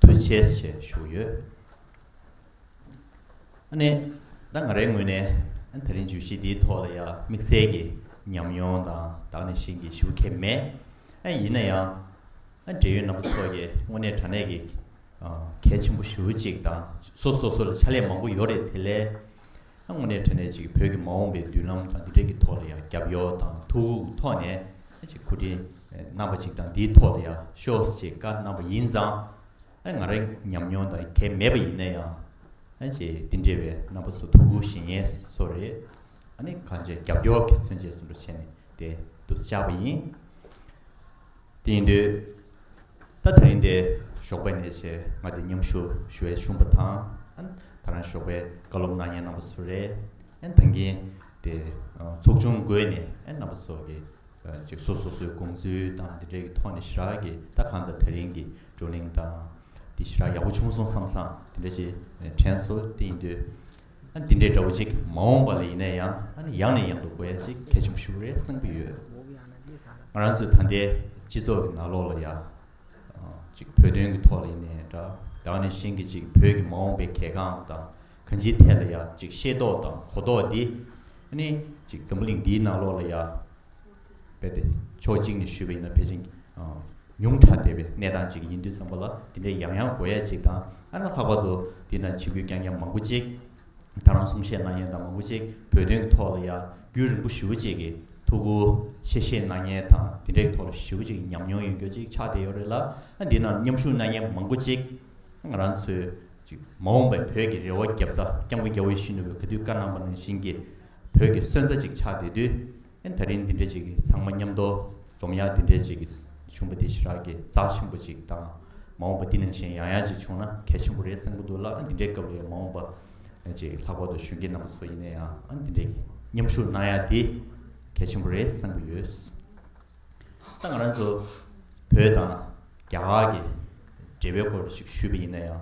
དུ་བྱས་ཞེས་བཞུགས་ཡོད། ནི། ད་ང་རའི་ངོས་ནས་ད་རིང་བརྗོད་གཞི་འདིའི་ཐོག་ལ་ཡང་དམིགས་བསལ་གྱི་ཉམས་མྱོང་དང་དག་ནས་བཞེངས་ཀྱིས་ཞུ་མཁན་མེད། ཡིན་ན་ཡང། འབྲེལ་ཡོད་རྣམ་པ་ཚོ་ཡིས་དངོས་གནས་དྲ་གནས་ཀྱི་གལ་ཆེན་པོ་ཞུ་གཅིག་དང། སོ་སོ་སོ་ལ་ཕྱག་ལས་མང་པོ་ཡོད་རེད་དེ་ལས། དངོས་གནས་དྲན་ནས་ཅིག་བོད་ཀྱི་མ་འོངས་པའི་མདུན་ལམ་དང་འདི་འབྲེལ་གྱི་ཐོག་ལ་ཡང་རྒྱབ་གཡོག་དང་ཐུགས་དབུགས་ཐོག་ནས་ཅིག་གོ་དྲིན་གནང་བ་ཅིག་དང་འདིའི་ཐོག་ལ་ཡང་ཤོགས་ཅེས་བཀའ་གནང་བ་ཡིན་ཙང། ང་རང་ཉམས་མྱོང་དང་གལ་མེད་པ་ཡིན་ན་ཡང། ཅེས་འདི་འདྲ་བའི་རྣམ་པ་ཚོ་ཐུགས་ཁུར་ཞེ་ངལ་སོགས་རེད། ཨ་ནི་གང་བྱས་རྒྱབ་སྐྱོར་གྱི་མཚོན་བྱེད་སུ་འགྲོ་བྱས་ནས་བསྡད་འདུག་ཅག་པ་ཡིན། དེ་ཡིན་དུས། ད་དེ་རིང་འདི་ཞོགས་པའི་ཉལ་ཆས་ང་འདི་མཉམ་ཞུ་ཞུ་བའི་ཆུང་པོ་དང། ད་རང་ཞོགས་པའི་བཀའ་སློབ་གནང་མཁན་རྣམ་པ་ཚོ་རེད། ད་གིན་དེ་ཚོགས་ཆུང་བགོས་ནས་རྣམ་པ་ཚོ་གི་ཅིག་སོ་སོ་སོའི་དགོངས་ཚུལ་དང་དེ་འབྲེལ་གྱི་ཐོག་ནས་ཞི་རགས་ཀྱི་ད་གང་ལྟར་དེ་རིང་གི་བགྲོ་གླེང་དང། དེ་ཞི་རགས་ཡག་པོ་བྱུང་སོང་བསམ་བསམ་དེ་འདྲ་ཞིག་དྲན་སོང་དེ་ཡིན་དུས། འདི་འདྲའི་དགྲ་བོ་ཅིག་མ་འོངས་པ་ལ་ཡིན་ན་ཡང་ཡང་ནས་ཡང་དུ་བསྐོ་ཡ་ཅིག་གལ་ཆེན་པོ་ཞུ་རེ་གསུངས་ཀྱི་ཡོད། ང་རང་ཚོའི་ད་ལྟའི་སྤྱི་ཚོགས་ཀྱི་ནག་ལོག་ལ་ཡང། ཅིག་བོད་དོན་གྱི་ཐོག་ལ་ཡིན་ནས་འདྲ་དག་ནས་གཞན་གྱི་ཅིག་བོད་ཀྱི་མ་འོངས་པའི་གལ་འགངས་དང་གང་ཅིའི་ཐད་ལ་ཡང་ཅིག་ཤེས་རྟོགས་དང་གོ་རྟོགས་འདི། ནི་ཅིག་འཛམ་བུ་གླིང་འདིའི་ནག་ལོག་ལ་ཡང། བས་པའི་ཕྱོགས་གཅིག་ནས་ཞུས་པ་ཡིན་ན་ཕལ་ཆེར་ཉུང་དྲགས་བསྡད་པའི་གནས་སྟངས་ཅིག་ཡིན་དུས་བསམ་པ་ལ་དེ་འདྲའི་ཡང་ཡང་དགོས་ཡ་ཅིག་དང་ཨ་ན་ལྷག་པར་དུ་འདི་ན་བྱེད་ཁུལ་རྐྱང་རྐྱང་མང་པོ་ཅིག་དང་རང་གསུང་བཤད་གནང་མཁན་དང་མང་པོ་ཅིག་བོད་དོན་གྱི་ཐོག་ལ་ཡ་རྒྱུས་རིང་པོ་ཞུ་བ་ཅིག་གིས་ཐུགས་ཁུར་ཆེ་བཞེས་གནང་མཁན་དང་དེ་འདྲའི་ཐོག་ལ་ཞུ་བ་ཅིག་ཉམས་མྱོང་ཡོད་མགྱོགས་ཅིག་ཆགས་བསྡད་ཡོད་རེད་ལ་ཨ་འདི་ན་མཉམ་ཞུགས་གནང་མཁན་མང་པོ་ཅིག་ང་རང་ཚོའི་ཅིག་མ་འོངས་པའི་བོད་ཀྱི་རེ་བ་བརྒྱབ་ས་སྐྱབས་མགོན་རྒྱ་བོད་ཤི་ནུ་བས་ག་དུས་བཀའ་གནང་པ་ནང་བཞིན་གྱི་བོད་ཀྱི་སོན་རྩ་ཅིག་ཆགས་བསྡད་དུས། ཨེ། ད་རིང་འདི་འདྲས་ཅིག་གིས་ཚང་མ་མཉམ་དོ། འཛོམས་ཡག་འདི་འདྲས་ཅིག་གིས་བྱུང་བ་དེ་ཞི་རགས་ཀྱི་རྩ་ཆེན་པོ་ཅིག་དང། མ་འོངས་པ་འདི་ནང་བཞིན་ཡང་ཡང་ཅིག་བྱུང་ན་གལ་ཆེན་པོ་རེད་བསམ་གྱི་འདུག་ལ་འདི་འདྲའི་སྐབས་ལས་མ་འོངས་པ། ཅིག་ལྷག་པར་དུ་གཞོན་སྐྱེས་རྣམ་པ་ཚོ་ཡིན་ན་ཡང་འདི་འདྲས་ཀྱི་མཉམ་ཞུགས་གནང་ཡག་དེ་གལ་ཆེན་པོ་རེད་བསམ་གྱི་ཡོད། ད་ང་རང་ཚོ་བོད་དང་རྒྱ་གར་གྱི་འབྲེལ་བའི་སྐོར་ཅིག་ཞུས་པ་ཡིན་ན་ཡང།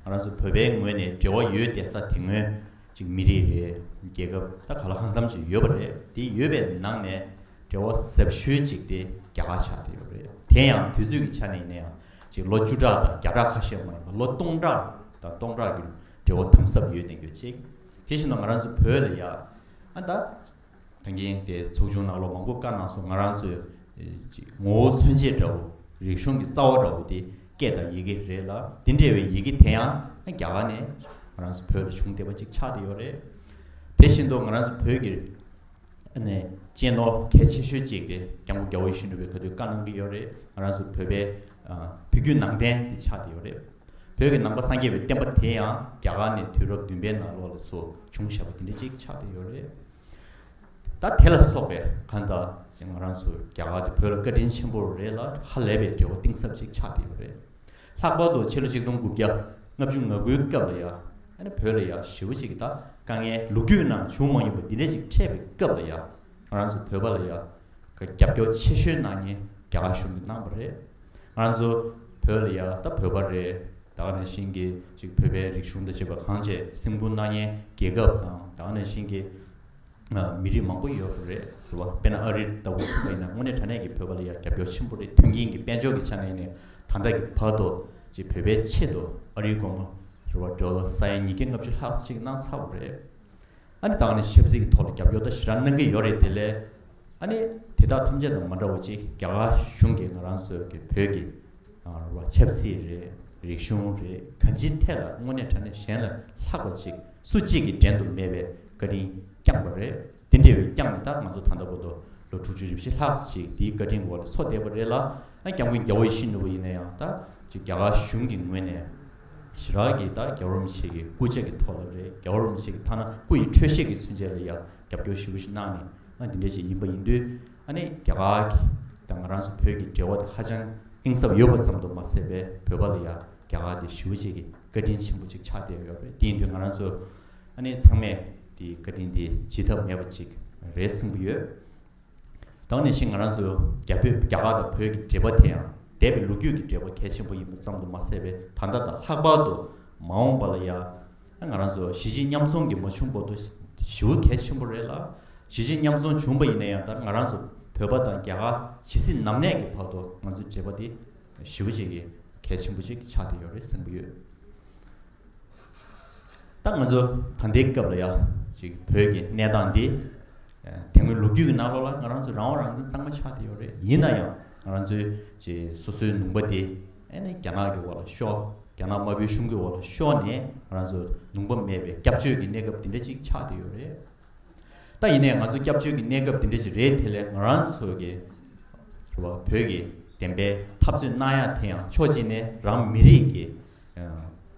ང་རང་ཚོ་བོད་པའི་ངོས་ནས་འབྲེལ་བ་ཡོད་བསྡད་ས་དེ་སྔོན། ཅིག་མི་རིགས་རེད་རྒྱལ་ཁབ་ད་ག་ལ་གང་འཚམ་ཅིག་ཡོད་པ་རེད་དེ་ཡོད་པའི་ནང་ནས་འབྲེལ་བ་ཟབ་ཤོས་ཅིག་དེ་རྒྱ་གར་ཆགས་ཏེ་ཡོད་རེད་དེ་ཡང་དུས་ཚོད་ཀྱི་ཆ་ནས་ཡིན་ན་ཡང་ཅིག་ལོ་བཅུ་ཕྲག་དང་བརྒྱ་ཕྲག་ཁ་ཤས་མ་ཡིན་པ་ལོ་སྟོང་ཕྲག་དང་སྟོང་ཕྲག་གི་འབྲེལ་བ་དམ་ཟབ་ཡོད་ནི་ཡོད་ཅིག་དེ་བཞིན་དུ་ང་རང་ཚོ་བོད་ལ་ཡ་ཨ་ད། ཐང་རྒན་དེ་ཚོགས་ཆུང་ནང་ལོ་མང་པོ་བཀའ་གནང་སོང་ང་རང་ཚོའི་ངོ་བོ་མཚོན་བྱེད་འདྲ་བོ་རིག་གཞུང་གི་རྩ་བ་འདྲ་བོ་དེ་སྐད་དང་ཡི་གེ་རེད་ལ་དེ་འདྲ་བའི་ཡི་གེ་དེ་ཡང་རྒྱ་གར་ནས་ང་རང་ཚོ་བོད་ལ་བྱུང་བསྡད་པ་ཅིག་ཆགས་བསྡད་ཡོད་རེད། དེ་བཞིན་དུ་ང་རང་ཚོ་བོད་ཀྱི་ནས་གཅེས་ནོར་གལ་ཆེ་ཤོས་ཅིག་དེ་རྒྱ་མགོ་རྒྱ་བོ་ཡེ་ཤུ་འགྲུབ་པའི་ག་དུས་བཀའ་གནང་གི་ཡོད་རེད་ང་རང་ཚོ་བོད་པའི་བོད་བརྒྱུད་ནང་བསྟན་དེ་ཆགས་བསྡད་ཡོད་རེད། བོད་ཀྱི་ནང་པ་སངས་རྒྱས་པའི་བསྟན་པ་དེ་ཡང་རྒྱ་གར་ནས་དུས་རབས་བདུན་པའི་ནང་ལོགས་ལ་ཚུར་བྱུང་ཞེས་པ་དེ་འདྲ་ཅིག་ཆགས་བསྡད་ཡོད་རེད། ད་དེ་ལ་སོགས་པའི་ཁ་བརྡ་ཞིག་ང་རང་ཚོ་རྒྱ་གར་དུ་བོད་ལ་བཀའ་དྲིན་ཆེན་པོ་རེད་ལ་ཧ་ལས་པའི་འབྲེལ་བ་གཏིང་ཟབ་ཅིག་ཆགས་བསྡད་ཡོད་རེད། ལྷག་པར་དུ་ཕྱི་ལོ་ཆིག་སྟོང་དགུ་བརྒྱ་ལྔ་བཅུ་ང་དགུའི་སྐབས་ལ་ཡང་བོད་ལ་ཡང་ཞི་བ་ཅིག་གི་ད་དཀའ་ངལ་ལོ་རྒྱུས་ནང་བྱུང་མ་མྱོང་པ་འདི་འདྲ་ཅིག་འཕྲད་པའི་སྐབས་ལ་ཡང་ང་རང་ཚོ་བོད་པ་ལ་ཡང་རྒྱབ་སྐྱོར་ཆེ་ཤོས་གནང་ཉེན་རྒྱ་གར་གཞུང་གིས་གནང་བ་རེད། ང་ཚོ་བོད་ལ་ཡག་ད་བོད་པ་རེད་དག་ནས་བཞིན་གྱི་ཅིག་བོད་པའི་རིག་གཞུང་ད་བྱེད་པ་གང་བྱས་སེམས་ཁུང་སྣ་བརྙན་རྒྱལ་ཁབ་དང་དག་ནས་བཞིན་གྱི་མི་རིགས་མང་པོ་ཡོད་པ་རེད་ཟེར་བ་དཔེ་ན་ཨ་རི་ལྟ་བུ་ཞིག་ཡིན་ན་དངོས་གནས་དྲ་གནས་ཀྱི་བོད་པ་ལ་ཡ་རྒྱབ་སྐྱོར་ཆེན་པོ་རེད་མཐུན་རྐྱེན་གྱི་དཔལ་འབྱོར་གྱི་ཆ་ནས་ནས་ད་ལྟ་གི་བར་དུ་ཅིག་བོད་པའི་ཆེད་དུ་ཨ་རིའི་སྒོར་མོ་རེ་བ་འབྲོ་ལ་ས་ཡ་ཉིས་བརྒྱ་ལྔ་བཅུ་ལྷག་ཅིག་གནང་ཚར་བ་རེད་ཨ་ནི་ད་ང་ནི་ཆབ་སྲིད་ཀྱི་ཐོག་ལ་རྒྱབ་སྐྱོར་དང་ཞི་རང་གནང་གི་ཡོད་རེད་དེ་ལས་ཨ་ནི་དེ་དག་ཐམས་ཅད་དང་མ་འདྲ་བ་ཅིག་རྒྱ་གར་གཞུང་གིས་ང་རང་ཚོའི་གི་བོད་ཀྱི་བ་ཆབ་སྲིད་རེད་རིག་གཞུང་རེད་ག་ཅིའི་ཐད་ལ་དངོས་གནས་དྲ་གནས་གཞན་ལ་ལྷག་པ་ཅིག་སུ་གཅིག་གིས་འགྲན་དུ་མེད་པའི་བཀའ་དྲིན་བསྐྱངས་པ་རེད་དེ་འདྲ་བའི་བསྐྱངས་ནས་ད་ང་ཚོ་ད་ལྟ་བོ་དོ་ལོ་དྲུག་ཅུ་རེ་བཞི་ལྷག་ཅིག་དེའི་བཀའ་དྲིན་གི་འོག་ལ་འཚོ་བསྡད་པ་རེད་ལ་ཨ་རྒྱ་མགོན་རྒྱ་བོ་ཡེ་ཤེས་ནོར་བུ་ཡིན་ན་ཡང་ད་ཅིག་རྒྱ་གར་གཞུང་གི་ངོས་ནས། ཇི་ལྟར་གྱིས་ད་རྒྱ་བོར་མི་བྱེད་ཀྱི་སྐུ་ཅད་ཀྱི་ཐོག་ལ་རེད་རྒྱ་བོར་མི་བྱེད་ཀྱི་ཐ་ན་སྐུ་ཡི་འཕྲོད་བཞེས་ཀྱི་ཚུན་ཆད་ལ་ཡང་རྒྱབ་སྐྱོར་ཞི་བོ་ཞིག་གནང་ནས་ཨ་འདི་འདྲའི་ཅིག་ཡིན་པ་ཡིན་དུས་ཨ་ནི་རྒྱ་གར་གྱི་དང་ང་རང་སོ་བོད་ཀྱི་འབྲེལ་བ་དེ་ཧ་ཅང་གཏིང་ཟབ་ཡོད་པ་ཙམ་དུ་མ་ཟད་པའི་བོད་པ་ལ་ཡང་རྒྱ་གར་འདི་ཞི་བོ་ཅད་ཀྱི་བཀའ་དྲིན་ཆེན་པོ་ཅིག་ཆགས་བསྡད་ཡོད་རེད་དེ་ཡིན་དུས་ང་རང་ཚོ་ཨ་ནི་ཚང་མས་འདིའི་བཀའ་དྲིན་འདི་བརྗེད་ཐབས་མེད་པ་ཅིག་རེད་བསམ་གྱི་ཡོད། དང་ནས་བཞིན་ང་རང་ཚོ་རྒྱ་བོད་རྒྱ་གར་དང་བོད་ཀྱི་འབྲེལ་པ་དེ་ཡང་འདས་པའི་ལོ་རྒྱུས་ཀྱི་འབྲེལ་བ་གལ་ཆེན་པོ་ཡིན་པ་ཙམ་དུ་མ་ཟད་པའི་ད་ལྟ་དང་ལྷག་པར་དུ་མ་འོངས་པ་ལ་ཡང་ང་རང་ཚོ་གཞིས་བྱེས་མཉམ་འཛོམས་ཀྱི་མ་བྱུང་བར་དུ་ཞི་བ་གལ་ཆེན་པོ་རེད་ལ་གཞིས་བྱེས་མཉམ་འཛོམས་བྱུང་བ་ཡིན་ན་ཡང་ད་ང་རང་ཚོ་བོད་པ་དང་རྒྱ་གར་ཇི་སྲིད་ནམ་གནས་ཀྱི་བར་དུ་ང་ཚོའི་འབྲེལ་པ་དེ་ཞི་བ་བྱེད་ཀྱི་གལ་ཆེན་པོ་ཅིག་ཆགས་བསྡད་ཡོད་རེད་བསམ་གྱི་ཡོད། ད་ང་ཚོ་ད་ལྟའི་སྐབས་ལ་ཡ་ཅིག་བོད་ཀྱི་གནས་སྟངས་འདི། དེ་སྔོན་ལོ་རྒྱུས་ཀྱི་ནང་ལོགས་ལ་ང་རང་ཚོ་རང་དབང་རང་བཙན་གཙང་མ་ཆགས་ཀྱི་ཡོད་རེད་ཡིན་ན་ཡང་ང་རང་ཚོའི་ཅེ་སོ་སོའི་ནུང་པ་འདི་ཨེ་ནས་རྒྱ་ནག་གི་འོག་ལ་ཤོར་རྒྱ་ནག་དམར་པོའི་གཞུང་གི་འོག་ལ་ཤོར་ནས་ང་རང་ཚོ་ནུང་པ་མེད་པའི་སྐྱབས་བཅོལ་གྱི་གནས་སྐབས་འདི་འདྲ་ཅིག་ཆགས་ཀྱི་ཡོད་རེད། ད་ཡིན་ནས་ང་ཚོ་སྐྱབས་བཅོལ་གྱི་གནས་སྐབས་འདི་འདྲ་ཅིག་རེད་དེ་ལས་ང་རང་ཚོ་གི་རེ་བ་བོད་ཀྱི་བདེན་པའི་འཐབ་རྩོད་གནང་ཡག་དེ་ཡང་ཕྱོགས་གཅིག་ནས་རང་མི་རིགས་ཀྱི་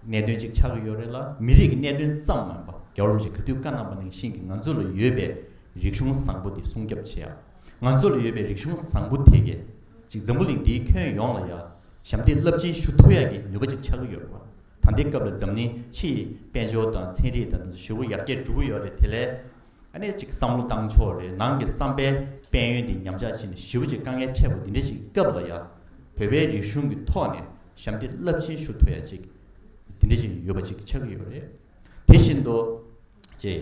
གནད་དོན་གཅིག་ཆགས་ཀྱི་ཡོད་རེད་ལ་མི་རིགས་ཀྱི་གནད་དོན་ཙམ་མིན་པ་རྒྱ་རོམ་གྱི་ག་དུས་བཀའ་གནང་པ་ནང་བཞིན་གྱི་ང་ཚོ་ལ་ཡོད་པའི་རིག་གཞུང་བཟང་པོ་དེ་སྲུང་སྐྱོབ་བྱེད་ཡ། ང་ཚོ་ལ་ཡོད་པའི་རིག་གཞུང་བཟང་པོ་དེ་གལ་ཅིག་འཛམ་བུ་གླིང་འདིའི་ཁྱོན་ཡོངས་ལ་ཡ་ཞབས་འདེགས་རླབས་ཆེན་ཞུ་ཐུབ་ཡ་གྱི་ནུས་པ་གཅིག་ཆགས་ཀྱི་ཡོད་རེད་ད་ལྟའི་སྐབས་ལ་འཛམ་གླིང་ཕྱི་ཡི་དཔལ་འབྱོར་དང་ཚན་རིག་དང་དེ་ཚོ་ཞི་བོ་ཡར་རྒྱས་འགྲོ་གི་ཡོད་རེད་དེ་ལས། གནད་གཅིག་བསམ་བློ་བཏང་ཕྱོགས་རེད་ནང་གི་བསམ་པའི་དཔལ་ཡོན་འདི་ཉམས་ཆག་ཕྱིན་ནས་ཞི་བ་གཅིག་དཀའ་ངལ་འཕྲད་པོ་འདི་འདྲ་གཅིག་སྐབས་ལ་ཡ་བོད་པའི་རིག་གཞུང་གི་ཐོག་ནས་ཞབས་འདེགས་རླབས་ཆེན་ཞུ་ཐུབ་ཡ་གཅིག་འདི་འདྲ་གཅིག་ཡོད་པ་གཅིག་ཆགས་ཀྱི་ཡོད་རེད་དེ་བཞིན་དུ་ཅེས་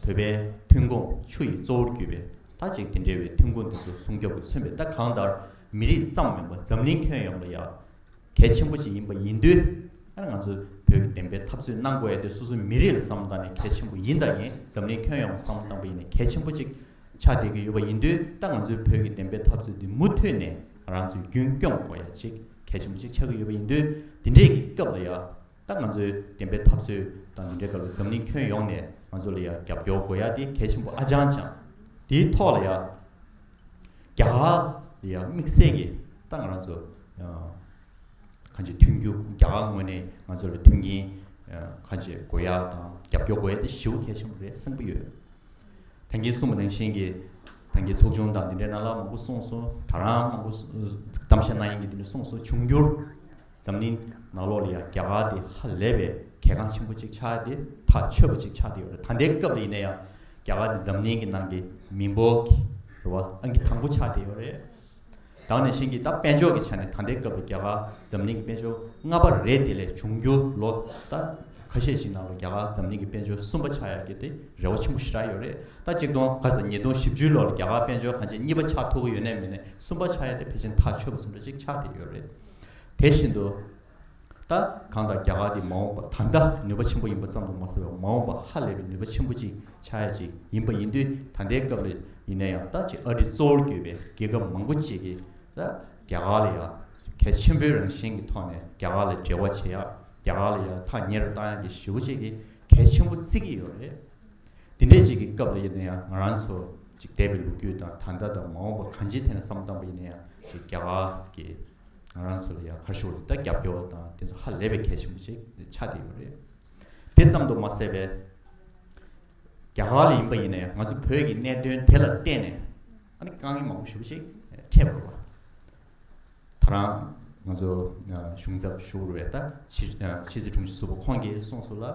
བོད་པའི་ཐུན་ཁུང་ཆུ་ཡི་གཙོ་བོར་གྱུར་པའི་ད་ཅིག་དེ་འདྲ་བའི་ཐུན་ཁུང་འདི་ཚོ་སྲུང་སྐྱོབ་ཀྱི་མཚོན་པའི་ད་གང་ལྟར་མི་རིགས་ཙམ་མིན་པ་འཛམ་གླིང་ཁྱོན་ཡོངས་ལ་ཡ་གལ་ཆེན་པོ་ཞིག་ཡིན་པ་ཡིན་དུས། ཡང་ང་ཚོས་བོད་ཀྱི་བདེན་པའི་འཐབ་རྩོད་གནང་དགོས་ཡ་དེ་སོ་སོའི་མི་རིགས་ལ་བསམ་བློ་བཏང་ནས་གལ་ཆེན་པོ་ཡིན་ད་ཡིན་འཛམ་གླིང་ཁྱོན་ཡོངས་ལ་བསམ་བློ་བཏང་པ་ཡིན་ནས་གལ་ཆེན་པོ་ཅིག་ཆགས་བསྡད་ཀྱི་ཡོད་པ་ཡིན་དུས་ད་ང་ཚོའི་བོད་ཀྱི་བདེན་པའི་འཐབ་རྩོད་འདི་མུ་མཐུད་ནས་རང་ཚོས་རྒྱུན་སྐྱོང་དགོས་ཡ་ཅིག་གལ་ཆེན་པོ་ཅིག་ཆགས་ཀྱི་ཡོད་པ་ཡིན་དུས་འདི་འདྲས་ཀྱི་སྐབས་ལ་ཡ། ད་ང་ཚོའི་བདེན་པའི་འཐབ་རྩོད་དང་མི་འབྲལ་ག་ལ་འཛམ་གླིང་ཁྱོན་ཡོངས་ནས་ང་ཚོ་ལ་ཡང་རྒྱབ་སྐྱོར་དགོས་ཡ་དེ་གལ་ཆེན་པོ་ཨ་ཅང་ཅང། དེའི་ཐོག་ལ་ཡང་རྒྱ་གར་ལ་ཡང་དམིགས་བསལ་གྱི་ད་ང་རང་ཚོ་གང་ཅི་མཐུན་རྒྱུ་རྒྱ་གར་ངོས་ནས་ང་ཚོ་ལ་མཐུན་རྐྱེན་གང་ཅི་དགོས་ཡ་དང་རྒྱབ་སྐྱོར་དགོས་ཡ་དེ་ཞེ་བོ་གལ་ཆེན་པོ་རེད་བསམ་གྱི་ཡོད། ཐང་གིན་གསུངས་པ་ནང་བཞིན་གྱི་ཐང་གིན་ཚོགས་ཆུང་དང་འདི་འདྲའི་ནང་ལ་མང་པོ་གསུངས་སོང་ད་རང་མང་པོ་གཏམ་བཤད་གནང་ཡིན་གྱི་འདི་འདྲ་གསུངས་སོང་འབྱུང་འགྱུར་འཛམ་གླིང་ནག་ལོག་ལ་ཡང་རྒྱ་གར་དེ་ཧ་ལས་པའི་གལ་འགངས་ཆེན་པོ་ཅིག་ཆགས་ཏེ་ཐག་ཆོད་པོ་ཅིག་ཆགས་ཏེ་ཡོད་རེད་ད་ལྟའི་སྐབས་ལ་ཡིན་ན་ཡང་རྒྱ་གར་དེ་འཛམ་གླིང་གི་ནང་གི་མི་འབོར་གྱི་རེད་བ་ཨང་ཀི་དང་པོ་ཆགས་ཏེ་ཡོད་རེད། དང་ནས་བཞིན་གྱི་ད་དཔལ་འབྱོར་གྱི་ཆ་ནས་ད་ལྟའི་སྐབས་ལ་རྒྱ་གར་འཛམ་གླིང་གི་དཔལ་འབྱོར་ལྔ་པ་རེད་དེ་ལས་འབྱུང་འགྱུར་ལོ་ད་ཁ་ཤས་ཤིག་ནང་ལ་རྒྱ་གར་འཛམ་གླིང་གི་དཔལ་འབྱོར་གསུམ་པ་ཆགས་ཡག་རྒྱུ་དེ་རེ་བ་ཆེན་པོ་ཞེ་དྲག་ཡོད་རེད་ད་གཅིག་སྟོང་ག་ས་ཉིས་སྟོང་བཞི་བཅུའི་ལོར་རྒྱ་གར་དཔལ་འབྱོར་གང་ཆེ་གཉིས་པ་ཆགས་ཐུབ་པོ་ཡོད་ནས་མེད་ནས་གསུམ་པ་ཆགས་ཡག་དེ་ཕལ་ཆེན་ཐག་ཆོད་པོ་ཟུང་འདྲ་ཅིག་ཆགས་ཏེ་ཡོད་རེད། དེ་བཞིན་དུ། ད་གང་དང་རྒྱ་གར་གྱི་མ་འོངས་པ་ད་ལྟ་ནུས་པ་ཆེན་པོ་ཡིན་པ་ཙམ་དུ་མ་ཟད་པར་མ་འོངས་པ་ཧ་ལས་པའི་ནུས་པ་ཆེན་པོ་ཅིག་ཆགས་ཡ་ཅིག་ཡིན་པ་ཡིན་དུས་ད་ལྟའི་སྐབས་ལ་ཡིན་ན་ཡང་ད་ཅི་ཨ་རི་གཙོ་བོར་གྱུར་པའི་རྒྱལ་ཁབ་མང་པོ་ཅིག་གིས་ད་རྒྱ་གར་ལ་ཡང་གལ་ཆེན་པོའི་རང་བཞིན་གྱི་ཐོག་ནས་རྒྱ་གར་ལ་འབྲེལ་བ་བྱེད་ཡ་རྒྱ་གར་ལ་ཡང་ཐག་ཉེ་རུ་བཏང་ཡ་གྱི་ཞུ་བ་ཅིག་གིས་གལ་ཆེན་པོ་བརྩི་གི་ཡོད་རེད། དེ་འདྲའི་ཅིག་གི་སྐབས་ལ་ཡིན་ན་ཡང་ང་རང་ཚོ་ཅིག་དད་པའི་ལོ་རྒྱུས་དང་ད་ལྟ་དང་མ་འོངས་པ་གང་ཅིའི་ཐད་ན་བསམ་བཏང་པ་ཡིན་ན་ཡང་ཅིག་རྒྱ་གར་གྱིས་ང་རང་ཚོ་ལ་ཡང་ཁ་ཤོ་ལི་ཏ་རྒྱབ་སྐྱོར་བ་དང་དེ་ཚོ་ཧ་ལས་པའི་གལ་ཆེན་པོ་ཅིག་ཆགས་བསྡད་ཡོད་རེད། དེ་ཙམ་དུ་མ་ཟད་པས་རྒྱ་གར་ལ་ཡིན་པ་ཡིན་ན་ཡང་ང་ཚོ་བོད་ཀྱི་གནད་དོན་དེ་ལ་བརྟེན་ནས་ཨ་ནི་དཀའ་ངལ་མང་པོ་ཞུགས་པ་ཅིག་འཕྲད་པར་རོ། ད་རང་ང་ཚོ་གཞུང་ཚབ་ཤོག་རུ་བས་ད་ཕྱི་ཕྱི་སི་དྲུང་ཆེ་སོག་པོ་ཁོང་གིས་གསུངས་སོགས་ལ་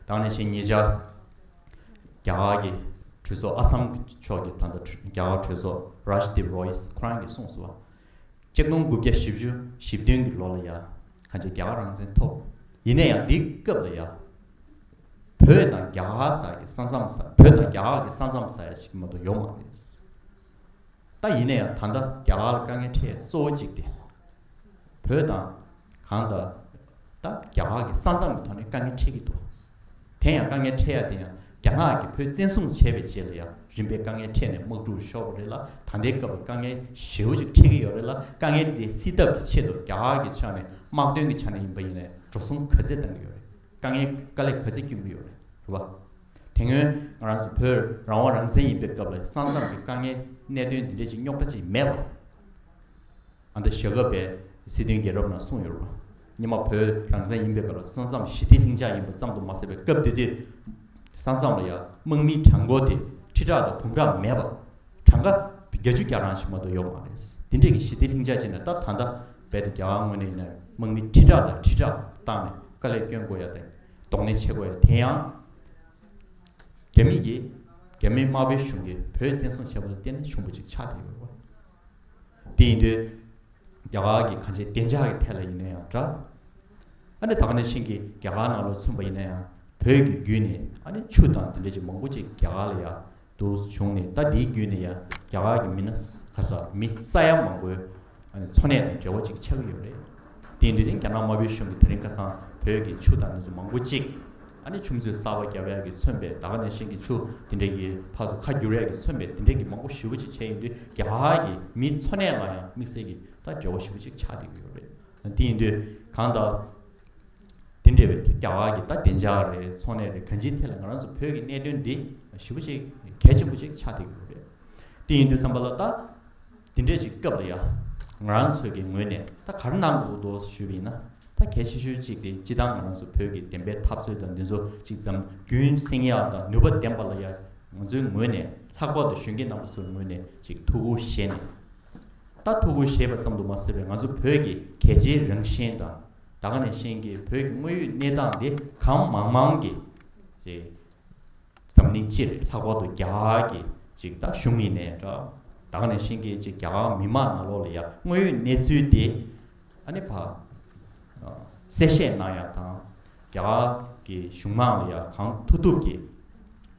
ད་ནས་བཞིན་ཉེ་ཆར་རྒྱ་གར་གྱི་གྲོས་ཚོགས་ཨ་སམ་གྱི་ཕྱོགས་ཀྱི་ད་ལྟ་རྒྱ་གར་གྲོས་ཚོགས་རཱཇ་དིབ་རོ་ཡིས་ཁོ་རང་གིས་གསུངས་སོ་བ་གཅིག་སྟོང་དགུ་བརྒྱ་བཞི་བཅུ་བཞི་བདུན་གྱི་ལོ་ལ་ཡ་ག་ཅིག་རྒྱ་གར་རང་བཙན་ཐོབ་ཡིན་ན་ཡང་འདི་སྐབས་ལ་ཡ་བོད་དང་རྒྱ་གར་ས་ཀྱི་ས་མཚམས་ས་བོད་དང་རྒྱ་གར་གྱི་ས་མཚམས་ས་ཡ་གཅིག་མ་གཏོགས་ཡོད་མ་རེད། ད་ཡིན་ན་ཡང་ད་ལྟ་རྒྱ་གར་ལ་དཀའ་ངལ་འཕྲད་གཙོ་བོ་གཅིག་སྟེ། བོད་དང། གང་ལྟར། ད་རྒྱ་གར་གྱི་ས་མཚམས་ཀྱི་ཐོག་ནས་དཀའ་ངལ་འཕྲད་ཀྱི་འདུག་དེ་ཡང་དཀའ་ངལ་འཕྲད་ཡ་དེ་ཡང་རྒྱ་ནག་གིས་བོད་བཙན་བཟུང་བྱས་པའི་རྗེས་ལ་ཡང་རིམ་པས་དཀའ་ངལ་འཕྲད་ནས་དམག་འཁྲུག་ཤོར་བ་རེད་ལ་ད་ལྟའི་སྐབས་ལ་དཀའ་ངལ་ཞེའུ་ཅིག་འཕྲད་ཀྱི་ཡོད་རེད་ལ་དཀའ་ངལ་འདི་སེལ་ཐབས་ཀྱི་ཆེད་དུ་རྒྱ་གར་གྱི་ཕྱག་ནས་དམག་དོན་གྱི་ཆ་ནས་ཡིན་པ་ཡིན་ལས་འགྲོ་སྲུང་གོས་ཚད་བཏང་གི་ཡོད་རེད་དཀའ་ངལ་དཀའ་ལས་གོས་ཚད་སྐྱོན་གྱི་ཡོད་རེད་བ། དེ་སྔོན་ང་རང་ཚོ་བོད་རང་དབང་རང་བཙན་ཡིན་པའི་སྐབས་ལ་ས་མཚམས་ཀྱི་དཀའ་ངལ་གནད་དོན་འདི་འདྲའི་ཅིག་རྙོག་དྲ་ཅིག་མེད་པར། ཨ་མདོ་ཞྭ་སྒབ་པའི་སྲིད་དོན་རྒྱལ་རབས་ནང་གསུངས་ཡོད་རེད། ཉི་མ་བོད་རང་བཙན་ཡིན་པའི་སྐབས་ལ་ས་མཚམས་ཞི་བདེ་ལྷིང་འཇགས་ཡིན་པ་ཙམ་དུ་མ་ཟད་པའི་སྐབས་དེ་དུས་ས་མཚམས་ལ་ཡང་དམག་མིའི་གྲངས་མགོ་དེ་ཁྲི་ཕྲག་དང་འབུམ་ཕྲག་མེད་པར་གྲངས་ཀ་བརྒྱ་ཅུ་གྱ་རང་ཞིག་མ་གཏོགས་ཡོད་མ་རེད། དེ་འདྲའི་གི་ཞི་བདེ་ལྷིང་འཇགས་ཅིག་ན་ད་ད་ལྟ་རྦད་དེ་རྒྱ་གར་དངོས་ནས་ཡིན་ན་དམག་མི་ཁྲི་ཕྲག་དང་ཁྲི་ཕྲག་བཏང་ནས་དཀའ་ལས་སྐྱོན་དགོས་ཡ་ད་ཡིན། གདོང་ལེན་བྱེད་དགོས་ཡ་དེ་ཡང། རྒྱ་མིས་ཀྱིས་རྒྱ་མི་དམར་པོའི་གཞུང་གིས་བོད་བཙན་བཟུང་བྱས་པ་ལ་བརྟེན་ནས་བྱུང་བ་ཅིག་ཆགས་བསྡད་ཡོད་རེད་བ། དེ་ཡིན་དུས། རྒྱ་གར་གྱི་གང་ཅི་བདེ་འཇགས་ཀྱི་ཐད་ལ་ཡིན་ན་ཡང་འདྲ། ཨ་ནི་ད་ག་ནས་ཕྱིན་གྱི་རྒྱ་གར་ནང་ལ་ཚུད་པ་ཡིན་ན་ཡང་བོད་ཀྱི་རྒྱུད་ནས་ཨ་ནི་ཆུ་དང་དེ་འདྲ་ཅིག་མང་པོ་ཅིག་རྒྱ་གར་ལ་ཡ་དུ་བྱུང་ནས་ཟླ་འདིའི་རྒྱུན་ནས་ཡང་རྒྱ་གར་གྱི་མི་སྣ་ག་ས་མི་ས་ཡ་མང་པོའི་འཚོ་གནས་དང་འབྲེལ་བ་ཅིག་ཆགས་ཀྱི་ཡོད་རེད། དེ་འདུས་ཏེ་རྒྱ་ནག་དམར་པོའི་གཞུང་གིས་དེ་རིང་ཁ་སང་བོད་ཀྱི་ཆུ་དང་ནེ་ཙོ་མང་པོ་གཅིག་ཆུ་མཛོད་གསར་པ་རྒྱ་བལ་གྱིས་མཚོན་པའི་ད་ག་ནས་ཤིང་གི་ཆུ་དེ་འདྲ་ཡིས་ཕར་སོ་ཁ་བསྒྱུར་བལ་གྱིས་མཚོན་པའི་དེ་འདྲ་གྱི་མང་པོ་ཞིབ་པོ་ཅིག་བྱས་ཡིན་དུས་རྒྱ་གར་གྱི་མིའི་འཚོ་གནས་ལ་ཡང་དམིགས་བསལ་གྱིས་ད་འབྲེལ་བ་ཞིབ་པོ་ཅིག་ཆགས་བསྡད་ཀྱི་ཡོད་རེད། དེ་ཡིན་དུས་གང་ལྟར། དེ་འདྲ་བའི་རྒྱ་གར་གྱི་ད་བདེ་འཇགས་རེད་ཚོང་ལས་རེད་གང་ཅིའི་ཐད་ལ་ང་རང་ཚོ་བོད་ཀྱི་གནད་དོན་འདི་ཞི་བོ་ཅིག་གལ་ཆེན་པོ་ཅིག་ཆགས་བསྡད་ཀྱི་རེད། དེ་ཡིན་དུས་བསམ་པ་ལ་ད་དེ་འདྲས་ཅིག་སྐབས་ལ་ཡ་ང་རང་ཚོས་ཀྱི་ངོས་ནས་ད་ག་རེ་གནང་དགོས་ཀྱི་འདུག་ཞུས་པ་ཡིན་ན་ད་གལ་ཆེ་ཤོས་ཅིག་དེ་སྤྱི་བཏང་ང་རང་ཚོ་བོད་ཀྱི་བདེན་པའི་འཐབ་རྩོད་དང་འདི་ཚོ་ཅིག་བརྩམ་རྒྱུན་སེང་ཡག་དང་ནུས་པ་ལྡན་པ་ལ་ཡ་ང་ཚོའི་ངོས་ནས་ལྷག་པར་དུ་གཞོན་སྐྱེས་རྣམ་པ་ཚོའི་ངོས་ནས་ཅིག་ཐུགས་ཁུར་བཞེས་ནས་ད་ཐུགས་ཁུར་བཞེས་པ་ཙམ་དུ་མ་ཟད་པའི་ང་ཚོ་བོད་ཀྱི་གལ་ཆེའི་རང་བཞིན་དང། ད་ག་ནས་ཤེས་ཀྱི་བོད་ཀྱི་དངོས་ཡོད་གནས་སྟངས་དེ་གང་མང་མང་གི་རེད། འཛམ་གླིང་སྤྱིར་ལྷག་པར་དུ་རྒྱ་གར་གྱི་ཅིག་ད་གཞུང་ཡིན་ནའི་འདྲ། ད་ག་ནས་ཤེས་ཀྱི་ཅིག་རྒྱ་གར་མི་མང་ནང་ལོགས་ལ་ཡ་དངོས་ཡོད་གནས་ཚུལ་དེ་ཨ་ནི་བ་གསལ་བཤད་གནང་ཡག་དང། རྒྱ་གར་གྱི་གཞུང་མང་ལ་ཡ་གང་ཐུབ་ཐུབ་ཀྱི་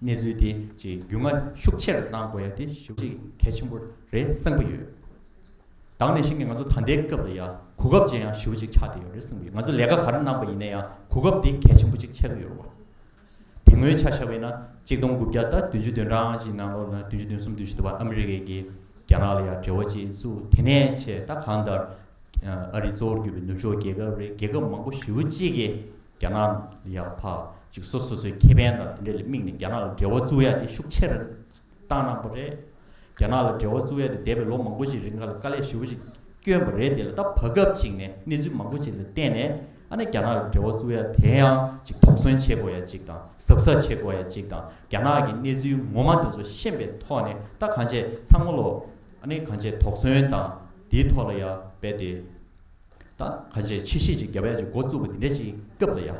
གནས་ཚུལ་དེ་ཅིག་རྒྱུས་མངའ་ཤུགས་ཆེར་གནང་དགོས་ཡ་དེ་ཞུ་ཅིག་གལ་ཆེན་པོ་རེད་བསམ་གྱི་ཡོད། བདག་ནས་ཤིང་གི་ང་ཚོ་ད་ལྟའི་སྐབས་ལ་ཡང་གོ་སྐབས་ཅན་ཡང་ཞུ་བ་ཅིག་ཆགས་བསྡད་ཡོད་རེད་བསམ་གི་ཡོད་ང་ཚོ་ལས་ཀ་ག་རེ་གནང་པ་ཡིན་ན་ཡང་གོ་སྐབས་དེ་གལ་ཆེན་པོ་ཅིག་ཆགས་ཀྱི་ཡོད་རེད་དེ་སྔོན་ཆ་བཞག་པས་ན་གཅིག་སྟོང་དགུ་བརྒྱ་དང་བདུན་ཅུ་དོན་གྲངས་ཀྱི་ནང་ལོགས་ན་བདུན་ཅུ་དོན་གསུམ་བདུན་བཞི་དུ་བ་ཨ་མི་རི་ཀས་ཀྱིས་རྒྱ་ནག་ལ་ཡང་འབྲེལ་བ་བཅས་བཙུགས་དེ་ནས་ཆེས་ད་གང་ལྟར་ཨ་རི་གཙོ་བོར་གྱུར་པའི་ནུབ་ཕྱོགས་རྒྱལ་ཁབ་རེ་རྒྱལ་ཁབ་མང་པོ་བཞི་བོ་གཅིག་གིས་རྒྱ་ནག་ལ་ཡང་ཕ་ཅིག་སོ་སོ་སོའི་ཁེ་ཕན་དང་དེ་འདྲ་ལ་དམིགས་ནས་རྒྱ་ནག་ལ་འབྲེལ་བ་བཙུགས་ཡ་དེ་ཤུགས་ཆེར་བཏང་གནང་པ་རེད། རྒྱ་ནག་ལ་འབྲེལ་བ་བཙུགས་ཡ་དེ་འདས་པའི་ལོ་མང་པོ་ཞིག་རིང་ང་ལ་དཀའ་ལས་ཧྲིལ་བོ་ཞིག་བསྐྱོན་པ་རེད་དེ་ལ་ད་བར་སྐབས་གཅིག་ནས་གནས་ཚུལ་མང་པོ་ཞིག་ལ་བརྟེན་ནས་ཨ་ནེ་རྒྱ་ནག་ལ་འབྲེལ་བ་བཙུགས་ཡ་དེ་ཡང་གཅིག་དོགས་ཟོན་བྱེད་དགོས་ཡ་གཅིག་དང་གཟབ་གཟབ་བྱེད་དགོས་ཡ་གཅིག་དང་རྒྱ་ནག་གི་གནས་ཚུལ་ངོ་མ་དེ་ཚོ་ཤེས་པའི་ཐོག་ནས་ད་གང་བྱས་ཚང་མ་ལོ་ཨ་ནེ་གང་བྱས་དོགས་ཟོན་དང་དེའི་ཐོག་ལ་ཡ་རྦད་དེ་ད་གང་བྱས་ཕྱི་བཤིག་ཅིག་རྒྱབ་ཡ་ཅིག་འགོ་བཙུགས་པ་དེ་འདྲ་ཞིག་སྐབས་ལ་ཡ།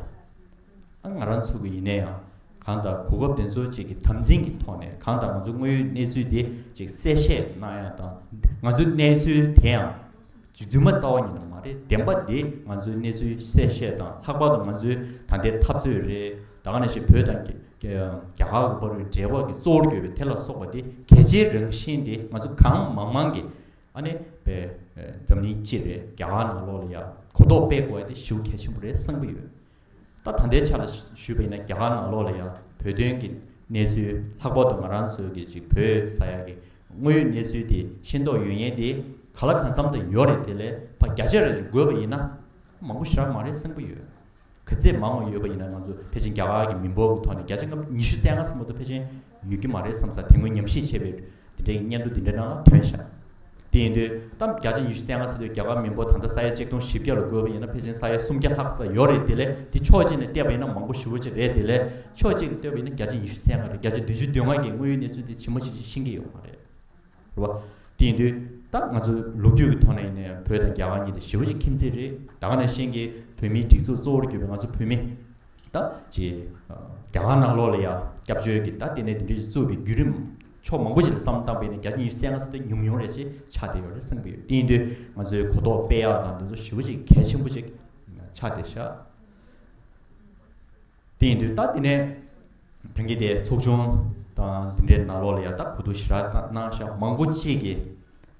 ང་རང་ཚུར་བུ་ཡིན་ན་ཡང་གང་ལྟར་གོ་སྐབས་དེ་ཚོ་ཅིག་གི་དམ་འཛིན་གྱི་ཐོག་ནས་གང་ལྟར་ང་ཚོ་དངོས་ཡོད་གནས་ཚུལ་དེ་ཅིག་གསལ་བཤད་གནང་ཡག་དང་ང་ཚོའི་གནས་ཚུལ་དེ་ཡང་རྫུན་མ་རྩ་བ་ཉིད་ནས་མ་རེད་བདེན་པ་དེ་ང་ཚོའི་གནས་ཚུལ་གསལ་བཤད་དང་ལྷག་པར་དུ་ང་ཚོའི་ད་ལྟའི་འཐབ་རྩོད་རེད་ད་ག་ནས་ཞིག་བོད་དང་རྒྱ་གར་གྱི་བར་འབྲེལ་བ་གྱི་གཙོ་བོར་གྱུར་པའི་དེ་ལ་སོགས་པ་དེ་གལ་ཆེའི་རང་བཞིན་དེ་ང་ཚོ་གང་མང་མང་གི་ཨ་ནི་བས་འཛམ་གླིང་སྤྱི་རེད་རྒྱ་གར་ནང་ལོགས་ལ་ཡག་གོ་རྟོགས་སྤེལ་དགོས་དེ་ཞུ་གལ་ཆེན་པོ་རེད་བསམ་གྱི་ཡོད། ད་ད་ལྟའི་ཆ་ལ་ཞུས་པ་ཡིན་ན་རྒྱ་གར་ནང་ལོགས་ལ་ཡང་བོད་དོན་གྱི་གནས་ཚུལ་ལྷག་པར་དུ་ང་རང་ཚོའི་གི་ཅིག་བོད་ས་ཡ་གི་དངོས་ཡོད་གནས་ཚུལ་དེ་ཤེས་མདོག་ཡོད་ཉེན་དེ་ག་ལ་གང་འཚམ་དུ་ཡོད་རེད་དེ་ལས་ཕ་བརྒྱ་ཆ་རེ་ཞིག་དགོས་པ་ཡིན་ན་མང་པོ་ཞག་མང་རེ་སེམས་པོ་ཡོད་གི་ཚད་མང་བ་ཡོད་པ་ཡིན་ན་ང་ཚོ་ཕལ་ཆེན་རྒྱ་གར་གྱི་མི་འབོར་གྱི་ཐོག་ནས་བརྒྱ་ཆ་ང་ཉི་ཤུ་རྩེ་ལྔ་སེམས་པོ་དུ་ཕལ་ཆེན་ཡོད་ཀྱི་མ་རེད་བསམ་ས་དེ་སྔོན་ཉམས་ཞིབ་བྱས་པའི་དེ་འདྲའི་སྙན་ཐོ་འདི་འདྲ་རྣམས་ལ་དོན་བྱ། དེ་ཡིན་དུས་གཏམ་བརྒྱ་ཆ་ཉི་ཤུ་གསལ་ངང་ཟེར་དུས་རྒྱ་གར་མི་འབོར་ད་ལྟ་ས་ཡ་གཅིག་སྟོང་བཞི་བརྒྱ་ལ་འགོས་པ་ཡིན་ན་ཕལ་ཆེན་ས་ཡ་སུམ་བརྒྱ་ལྷག་ས་ལ་ཡོད་རེད་དེ་ལས་དེ་ཕྱོགས་གཅིག་ནས་བལྟས་པ་ཡིན་ན་མང་པོ་ཞི་བོ་ཅིག་རེད་དེ་ལས་ཕྱོགས་གཅིག་ལ་ལྟོས་པ་ཡིན་ན་བརྒྱ་ཆ་ཉི་ཤུ་གསལ་ངང་རེད་བརྒྱ་ཆ་བདུན་ཅུ་བདུན་ལྔ་འགའི་དངོས་ཡོད་གནས་ཚུལ་འདི་ཇི་མ་ཇི་བཞིན་ཤེས་ཀྱི་ཡོད་མ་རེད། རེད་བ། དེ་ཡིན་དུས་ད་ང་ཚོ་ལོ་རྒྱུས་ཀྱི་ཐོག་ནས་ནས་བོད་དང་རྒྱ་གར་གཉིས་དེ་ཞི་བ་གཅིག་ཁྱིམ་མཚེས་རེད་ད་ག་ནས་ཤེས་ཀྱི་བོད་མིའི་སྒྲིག་འཛུགས་གཙོ་བོར་གྱུར་པའི་ང་ཚོ་བོད་མི་ད་ཅི་རྒྱ་གར་ནང་ལོགས་ལ་ཡང་སྐྱབས་བཅོལ་གྱི་ད་ལྟེ་ནས་དེ་འདྲའི་བཙུགས་པའི་བརྒྱུད་རིམ་ཕྱོགས་མང་པོ་ཞིག་ལ་བསམ་བཏང་པས་ནས་གྱ་གཉིས་སེ་ང་སེ་ད་ཉུང་ཉུང་རེ་ཞིག་ཆགས་བསྡད་ཡོད་རེད་བསམ་གྱི་ཡོད་དེ་ཡིན་དུས་ང་ཚོའི་གོ་རྟོགས་དཔེ་ཡག་དང་དེ་ཚོ་ཞི་བ་གཅིག་གལ་ཆེན་པོ་ཅིག་ཆགས་བསྡད་ཤག། དེ་ཡིན་དུས་ད་དེ་ནས་དོན་གྱིས་དེ་ཚོགས་ཆུང་དང་དེ་འདྲའི་ནང་ལོགས་ལ་ཡང་ད་གོ་དུ་ཞི་ར་གནང་ཤག་མང་པོ་གཅིག་གིས་